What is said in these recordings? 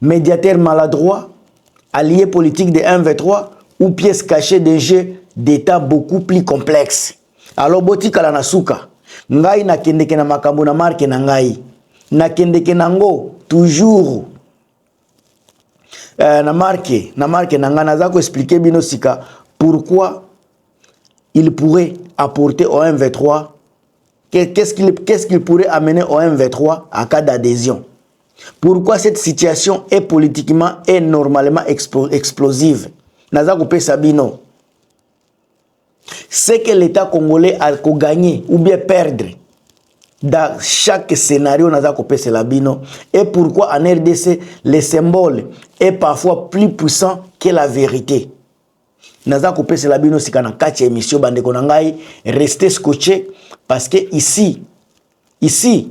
Mediateur maladroit, allié politique de MV3 ou pièce cachée d'un jeu d'Etat beaucoup plus complexe. Alors botikala na suka. Ngai nakendeke na makambo na marque na ngai. Nakendeke nango toujours euh, na marque na marque na ngai naza ko expliquer bino sika pourquoi il pourrait apporter au MV3 qu'est-ce qu'il qu'est-ce qu'il pourrait amener au MV3 à cas d'adhésion. Pourquoi cette situation est politiquement et normalement explosive Naza kopesa bino. Ce que l'État congolais a ko gagner ou bien perdre dans chaque scénario naza kopesa la bino et pourquoi en RDC les symboles est parfois plus puissant que la vérité. Naza kopesa la bino sika na kati émission bande ko na ngai restez scotché parce que ici ici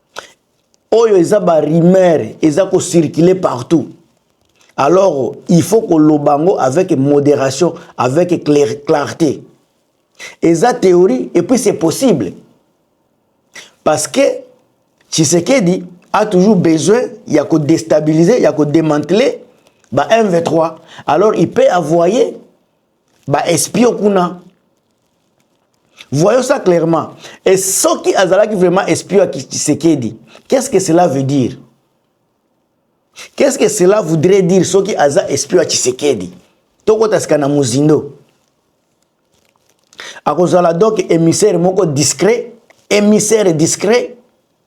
oyo eza ba rumeur eza ko circuler partout alors il faut koloba yango avec modération avec clarté eza théorie et puis c'est possible parce que Tshisekedi a toujours besoin ya ko déstabiliser ya ko démanteler ba MV3 alors il peut envoyer ba espion kuna voyons ça clairement et soki azalaki vraiment espion ya Tshisekedi qu'est-ce que cela veut dire qu'est-ce que cela voudrait dire soki aza espion ya Tshisekedi tokota sika na mozindo akozala donc émissaire moko discret émissaire discret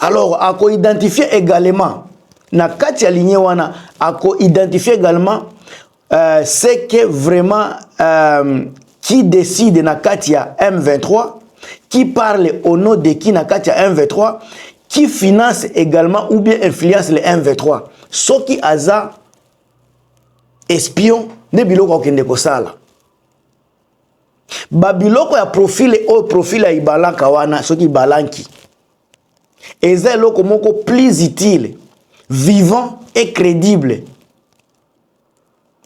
Alors, à ko identifier également, na kati ya lignée wana, à ko identifier également, euh, c'est que vraiment, euh, qui décide na kati ya M23, qui parle au nom de qui na kati ya M23, qui finance également ou bien influence les M23. Ce qui aza espion, ne biloko akende kosala. ba biloko ya profile oyo profile ya ibalanka wana soki ibalanki eza eloko moko plus utile vivant et crédible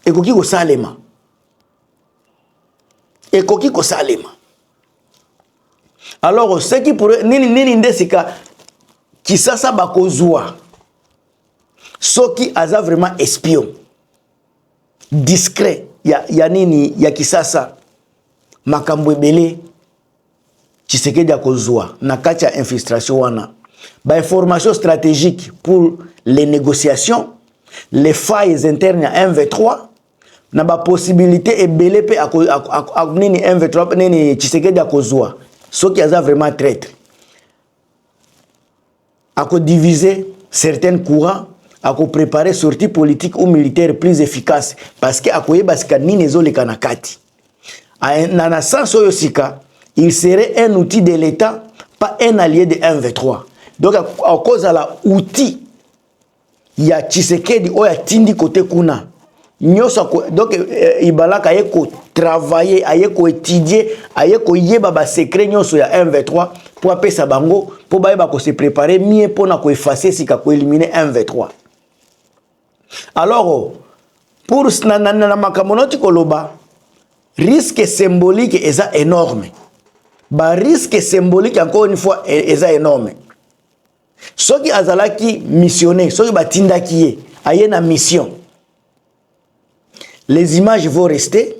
ekoki kosalema ekoki kosalema alors oseki pour nini nini nde sika kisasa bakozwa soki aza vraiment espion discret ya, ya nini ya kisasa makambo ebele tshisekedi akozwa na kati ya infiltration wana bainformation stratégique pour les négociations les failles internes ya mv3 na bapossibilité ebele mpe nini mv3 nini tshisekedi akozwa soki aza vraiment traitre Ako diviser certaines courants, ako preparer sortie politique ou militaire plus efficace parce que akoyeba sika nini ezoleka na kati. Na na sens oyo sika, il serait un outil de l'Etat, pas un allié de M23. Donc akozala outil ya tshisekedi oyo atindi kote kuna nyonso donc eh, eh, ibalaka aye kotravaille aye koetudie aye koyeba basecret nyonso ya mv3 mpo apesa bango mpo bayeba kose prépare mie mpo na koefase sika koelimine mv3 alors pour na, na, na, na makambo noti koloba risque symbolique eza énorme bariske symbolique encore une fois e, eza énorme soki azalaki missionnaire soki batindaki ye aye na mission les images vont rester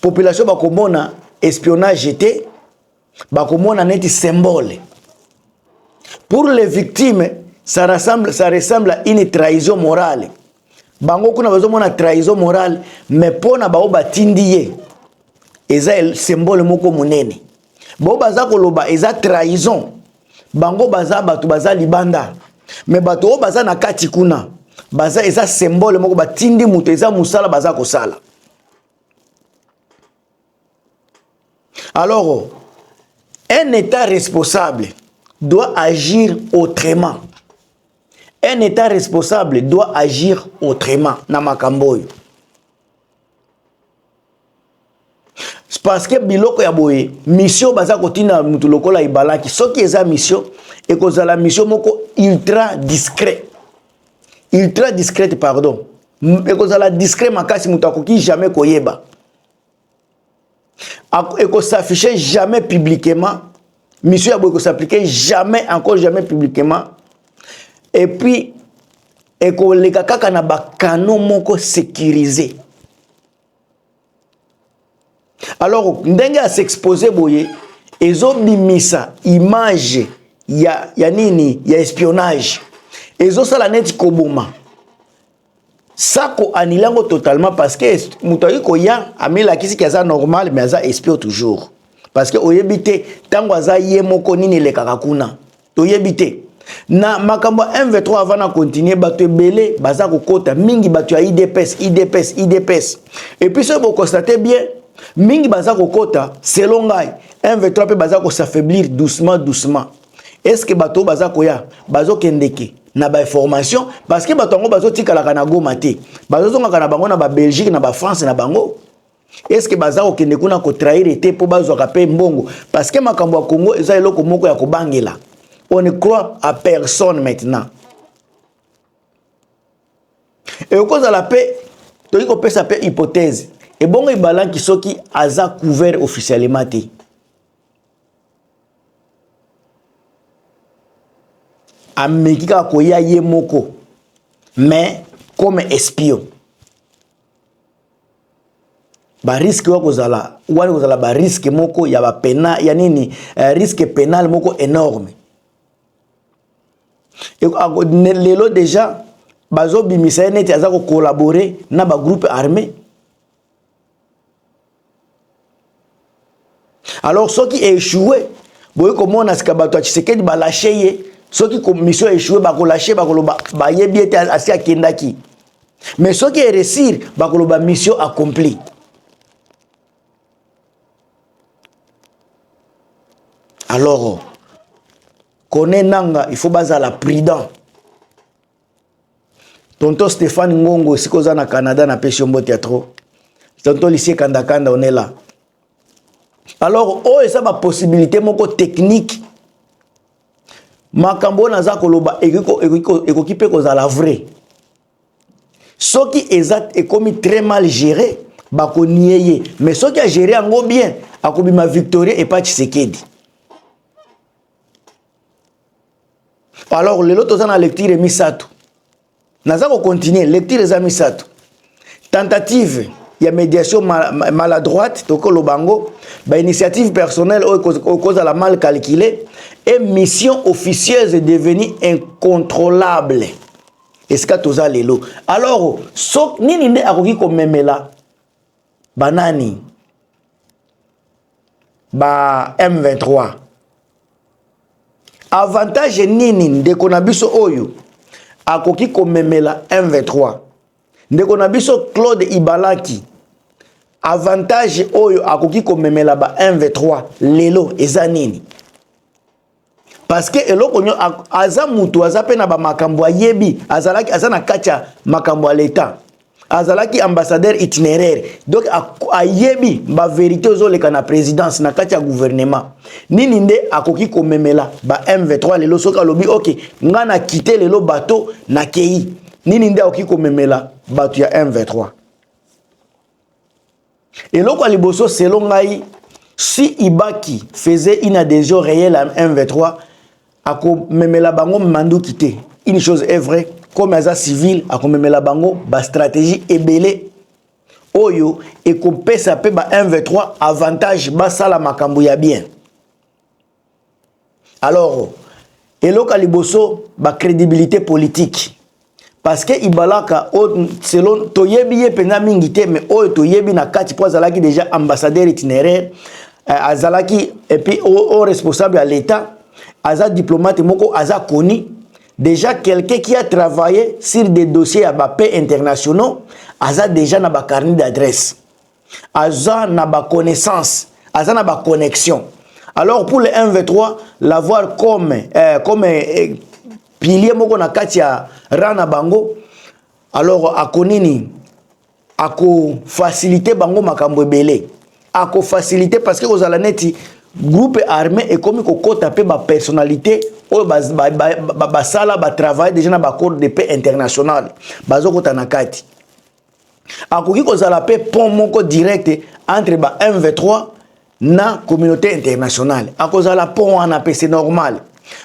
population bakomona espionnage te bakomona neti symbole pour les victimes ça ressemble, ça ressemble à une trahison morale bango kuna bazomona trahison morale mais mpo na bango batindi ye eza symbole moko monene bo baza koloba eza trahison bango baza bato baza libanda me bato oyo baza na kati kuna baza eza symbole moko batindi moto eza mosala baza kosala alors un état responsable doit agir autrement un état responsable doit agir autrement na makambo oyo parce que biloko ya boye mission baza kotina mutu lokola ibalaki soki eza mission ekozala mission moko ultra discret ultra discrète pardon ekozala discret makasi moto akoki jamais koyeba ekosaffiche jamais publiquement mission ya boye ekosapplike jamais encore jamais publiquement et puis ekoleka kaka na bakano moko sécurisé alors ndenge a s'expose boye ezobimisa image ya, ya nini ya espionnage ezosala neti koboma sako anile yango totalement parce que moto akoki koya amilakisi ke aza normal mais aza espio toujours parce que oyebi te ntango aza ye moko nini elekaka kuna toyebi te na makambo ya mv3 avant na continue bato ebele baza kokota mingi bato ya idps idps idps epuis soki bokonstate bien mingi baza kokota selon ngai mv3 mpe baza kosafaiblir doucement doucement estce bato oyo baza koya bazokendeke na bainformation parce que bato yango bazotikalaka na goma te bazozongaka na bango na babelgique na bafrance na bango est ce que baza kokende kuna kotrahire te mpo bazwaka mpe mbongo parce que makambo ya congo eza eloko moko ya kobangela on ne croit à personne maintenant ekokozala mpe toki kopesa mpe hypothèse ebongo ibalanki soki aza couvert officiellement te ameki kaka koya ye moko mais comme espion ba risque wa kozala wani kozala ba risque moko ya ba pena ya nini eh, risque penal moko enorme e, a, ne, lelo deja bazobimisa ye neti aza kokolabore na bagroupe armé alors soki echoue boye komona sika bato ya tshisekedi balashe ye soki commission echoue bakolashe bakoloba bayebi ete asi akendaki mais soki eresir bakoloba mission accomplie alors kone nanga il faut bazala prudent Tonton Stéphane Ngongo, esika oza na Canada, na pesi yo mbote ya trop. Tonton Lycée Kanda Kanda, on est là. Alors, oyo eza ba possibilité moko technique. Makambo oyo naza koloba ekoki mpe kozala vrai. Soki eza ekomi très mal géré, bakonie ye. Mais soki a géré yango bien, akobima Victoria epa Tshisekedi. alors lelo toza na lecture misato naza kocontinue lecture eza misato tentative ya médiation maladroite tokoloba yango bainitiative personnelle oyo ekozala mal calcule et mission officieuse devenue incontrôlable esika toza lelo alors so nini nde akoki komemela banani ba M23 avantage nini ndeko na biso oyo akoki komemela M23 ndeko na biso Claude Ibalaki avantage oyo akoki komemela ba M23 lelo eza nini parce que eloko nyo aza mutu aza pe na ba makambo ayebi azalaki aza na kati ya makambo ya l'etat azalaki ambassadeur itinéraire donc ayebi ba verité ezoleka na présidence na kati ya gouvernement nini nde akoki komemela ba m23 lelo soki alobi ok nga na kite lelo bato na kei nini nde akoki komemela bato ya m23 eloko ya liboso selo ngai si ibaki faisait une adhesion réelle à m23 akomemela bango manduki te une chose est vrai comme aza civil akomemela bango bastratégie ebele oyo ekopesa mpe ba m23 avantage basala makambo ya bien Alors eloko ya liboso ba credibilite politique parce que Ibalaka selon toyebi ye mpenza mingi te mais oyo toyebi na kati mpo azalaki déjà ambassadeur itinéraire euh, azalaki et puis au responsable ya l'État aza diplomate moko aza koni déjà quelqu'un qui a travaillé sur des dossiers ya ba paix internationaux aza déjà na ba carnet d'adresse aza na ba connaissance aza na ba connexion alors pour le mv3 l'avoir comme eh, comme eh, pilier moko na kati ya ran na bango alors ako nini akofasilite bango makambo ebele akofasilite parce que kozala neti groupe armé ekomi kokɔta mpe bapersonnalité oyo basala batravaille déjà na baaccord de paix international bazokɔta na kati akoki kozala mpe pont moko direct entre ba mv3 na communauté internationale akozala pont wana mpe c'est normal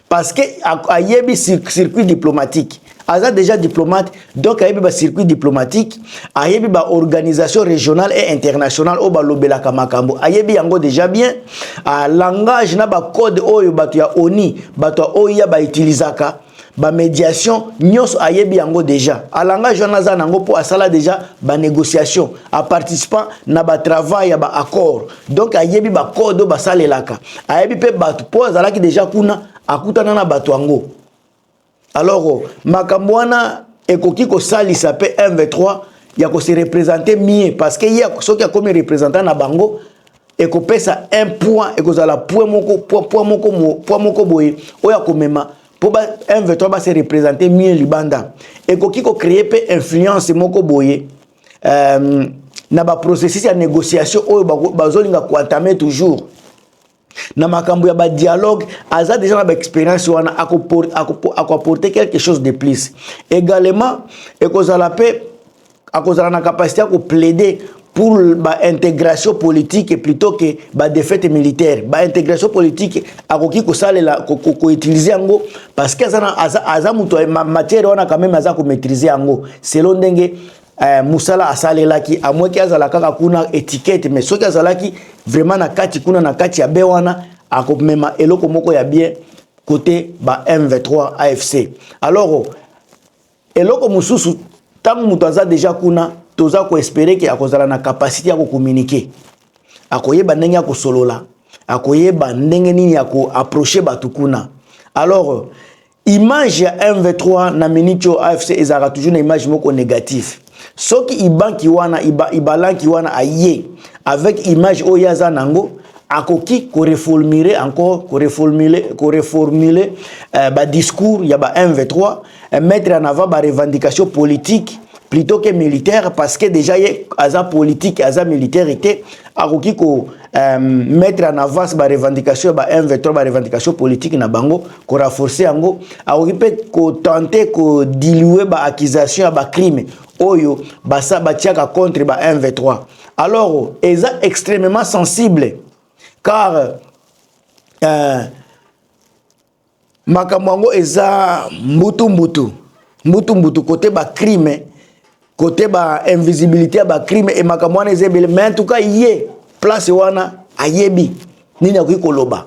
parce que ayebi circuit diplomatique aza déjà diplomate donc ayebi ba circuit diplomatique ayebi ba organisation régionale et internationale oyo balobelaka makambo ayebi yango déjà bien a langage na ba code oyo bato ya oni bato ya oya bautilisaka ba médiation nyonso ayebi yango déjà alangage wana aza nango mpo asala déjà ba négociation aparticipant na ba travail ya ba accord donc ayebi ba code oyo basalelaka ayebi mpe bato mpo azalaki déjà kuna akutana na bato yango alors oh, makambo wana ekoki kosalisa mpe mv3 ya kose représente mie parce que ye soki akomi représentant na bango ekopesa un point ekozala point moko point, point moko mo, point moko boye oyo akomema mpo ba M23 ba se représenter mieux libanda ekoki ko créer mpe influence moko boye euh, na ba processus ya négociation oyo bazolinga koentame toujours na makambo ya badialogue aza deja na baexpérience wana akoapporte quelque chose de plus également ekozala mpe akozala na capacité ya koplaide pour baintégration politique plutôt que badefete militaire baintégration politique akoki kosalela koutilize yango parce que aza, aza, aza moto matière wana quand même aza komaîtrise yango selon ndenge eh, mosala asalelaki amweki azala kaka kuna étiquette mais soki azalaki vraiment na kati kuna na kati ya be wana akomema eloko moko ya bien côté ba m23 afc alors Eloko mosusu ntango moto aza deja kuna toza koespere ke akozala na kapasite ya kokominike akoyeba ndenge ya kosolola akoyeba ndenge nini ya koaproche bato kuna alors image ya mv3 na minute oyo afc ezalaka toujours na image moko négatif soki ibanki wana iba, ibalanki wana aye avec image oyo ye aza nango akoki koreformule encore koreformule koreformule uh, eh, badiscours ya ba mv3 eh, mettre en avant ba revendication politique plutôt que militaire parce que déjà ye aza politique aza militaire te akoki ko euh, mettre en avant ba revendication ba M23 ba revendication politique na bango ko renforcer yango akoki mpe ko tenter ko diluer ba accusation ya ba crime oyo basa batiaka contre ba M23 alors eza extrêmement sensible car euh, makambo yango eza mbutu mbutu mbutu mbutu kote ba crime kote ba invisibilité ya ba crime e makambo wana eza ebele mais en tout cas ye place wana ayebi nini akoki koloba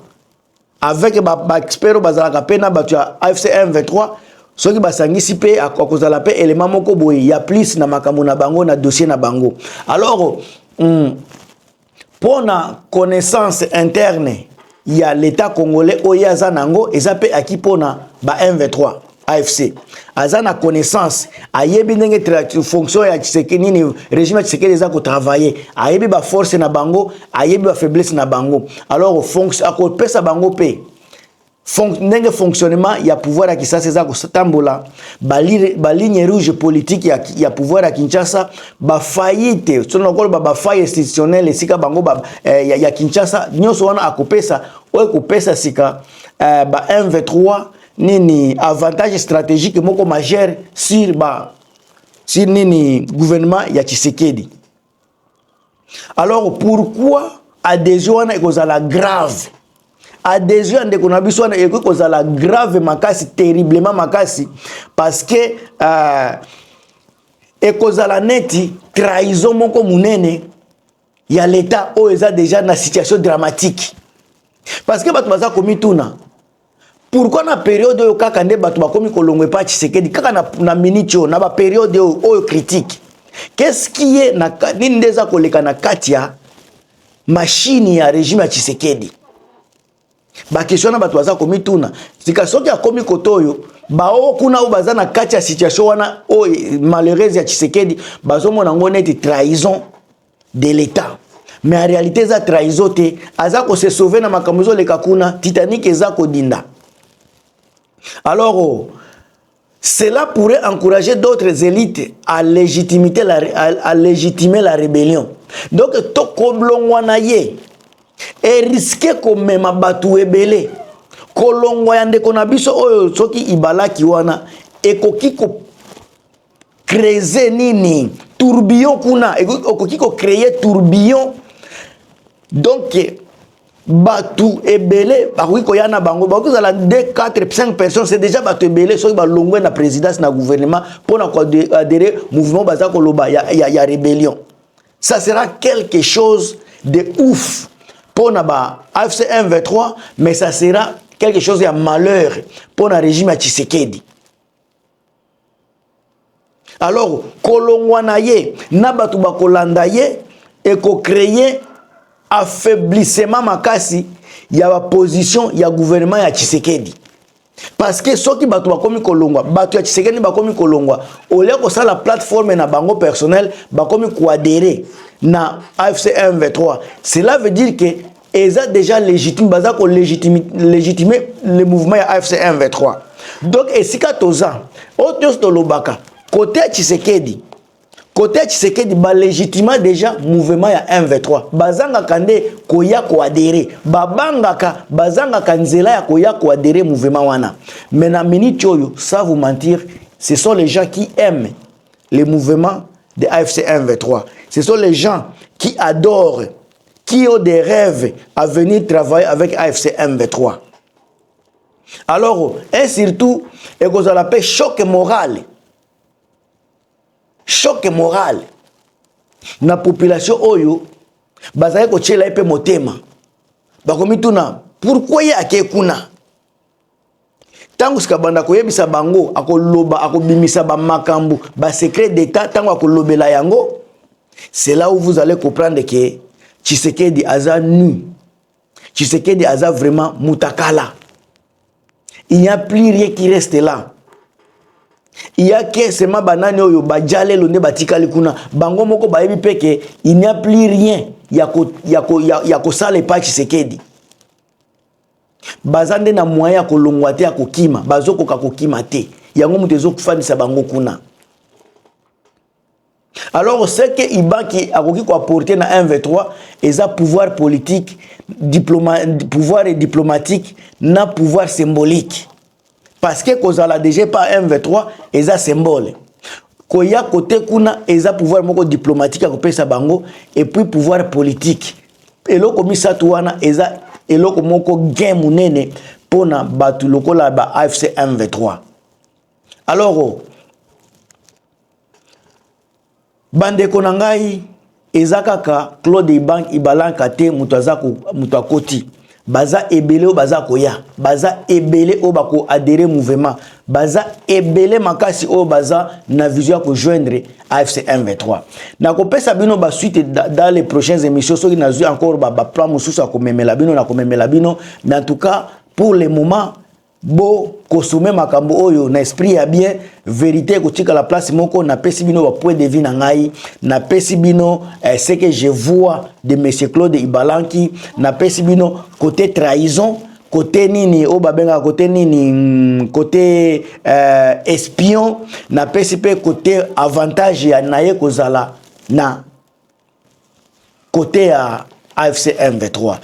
avec ba, ba expert oyo bazalaka mpe na bato ya afc 123 soki basangisi mpe akozala mpe elema moko boye ya plus na makambo na bango na dossier na bango alors mm, mpo na connaissance interne ya l'etat congolais oyo ye aza na yango eza mpe aki mpo na ba mv3 afc aza na connaissance ayebi ndenge fonction ya tshiseke nini régime ya tshisekedi eza kotravaille ayebi baforce na bango ayebi bafaiblesse na bango alors akopesa bango mpe Fon, ndenge fonctionnement ya pouvoir ya Kisasa eza kotambola ba ligne rouge politique ya, ya pouvoir ya Kinshasa ba faillite soki nakoloba ba faille institutionnelle esika bango ba, eh, ya, ya Kinshasa nyonso wana akopesa oyo ekopesa sika eh, ba MV3 nini avantage stratégique moko majeur sur ba sur nini gouvernement ya Tshisekedi alors pourquoi adhesion wana ekozala grave adhesion ya ndeko na biso wana ekoki kozala grave makasi terriblement makasi parce que euh, ekozala neti trahison moko monene ya leta oyo eza deja na situation dramatique parce que bato baza komituna Pourquoi na période oyo kaka nde bato bakomi kolongo epa Tshisekedi kaka na, na minute oyo na ba période oyo oyo critique qu'est-ce qui est na nini nde eza koleka na kati ya machine ya régime ya Tshisekedi bakestion na bato baza komituna sika soki akomi kote oyo baoyo kuna oyo baza na kati ya situation wana oyo malheureuse ya tshisekedi bazomona yango neti trahison de l'etat mais en réalité eza trahison te aza ko se sauver na makambo ezoleka kuna titanic eza kodinda alors oh, cela pourrait encourager d'autres élites à légitimer la, à, à légitimer la rébellion donc tokoblongwa na ye eriske komema bato ebele kolongwa ya ndeko na biso oyo soki ibalaki wana ekoki ko kreze nini tourbillon kuna okoki kocreye tourbillon donc bato ebele bakoki koya na bango bakoki kozala 2 4 5 personnes c'est déjà bato ebele soki balongwe na présidence na gouvernement mpo na koadere mouvement baza koloba ya, ya, ya rébellion ça sera quelque chose de ouf mpo na ba afc 1 23 mais ça sera quelque chose ya malheur mpo na régime ya tshisekedi alors kolongwa na ye na bato bakolanda ye ekocreye affaiblissement makasi ya baposition ya gouvernement ya tshisekedi parce que soki bato bakomi kolongwa bato ya tshisekedi bakomi kolongwa olia kosala plateforme na bango personnel bakomi koadere na afc m23 cela veut dire que eza déjà légitime baza ko légitime légitime le mouvement ya AFC M23 donc esika toza oyo nyonso tolobaka kote ya Tshisekedi kote ya Tshisekedi ba légitima déjà mouvement ya M23 bazangaka nde koya koadere babangaka bazangaka nzela ya koya koadere mouvement wana mais na minute oyo ça vous mentir ce sont les gens qui aiment les mouvements de AFC M23 ce sont les gens qui adorent qui ont des rêves à venir travailler avec AFC M23. Alors, et surtout, et que la paix choc moral. Choc moral. Na population oyo, bazali ko tchela epe motema. Bakomi tuna, pourquoi ya ke kuna? ntango sika banda koyebisa bango akoloba akobimisa bamakambo basecret d'état ntango akolobela yango c'est là où vous allez comprendre que tshisekedi aza nu tshisekedi aza vraiment mutakala il n'y a plus rien qui reste là il y a que seulement banani oyo bajalelo nde batikali kuna bango moko bayebi mpe ke il n'y a plus rien ya kosala epai tshisekedi baza nde na moyen ya kolongwa te ya kokima bazokoka kokima te yango moto ezofandisa bango kuna alors ce que ibaki akoki koaporte na mv3 eza pouvoir politique diploma, pouvoir diplomatique na pouvoir symbolique parce que kozala deja pa mv3 eza symbole koya kote kuna eza pouvoir moko diplomatique ya kopesa bango et puis pouvoir politique eloko misato wana eza eloko moko gain monene mpo na bato lokola ba afc mv3 alors Bandeko na ngai eza kaka Claude Ibang Ibalanka te moto aza ko moto akoti baza ebele oyo baza koya baza ebele oyo bako adere mouvement baza ebele makasi oyo baza na vision ya kojoindre afc m23 nakopesa bino basuite dans les prochaines émissions soki nazwi encore baplan mosusu ya komemela bino na komemela bino mais en tout cas pour le moment bo kosome makambo oyo na esprit ya bien verite ekotikala place moko napesi bino bapoint de vie na ngai napesi bino eh, ce que je vois de monsieur claude ibalanki napesi bino côté trahison kote nini oyo babengaka kote nini mm, kote euh, espion napesi mpe kote avantage ya na ye kozala na kote ya afc m23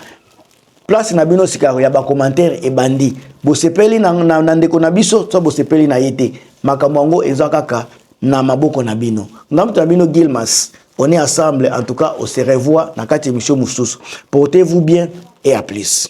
place na bino sikayo ya bacommentaire ebandi bosepeli na, na, na ndeko na biso to bosepeli na ye te makambo yango eza kaka na maboko na bino nga moto na bino gilmas on est ensemble en tout cas on se revoit na kati émission mosusu portez vous bien et à plus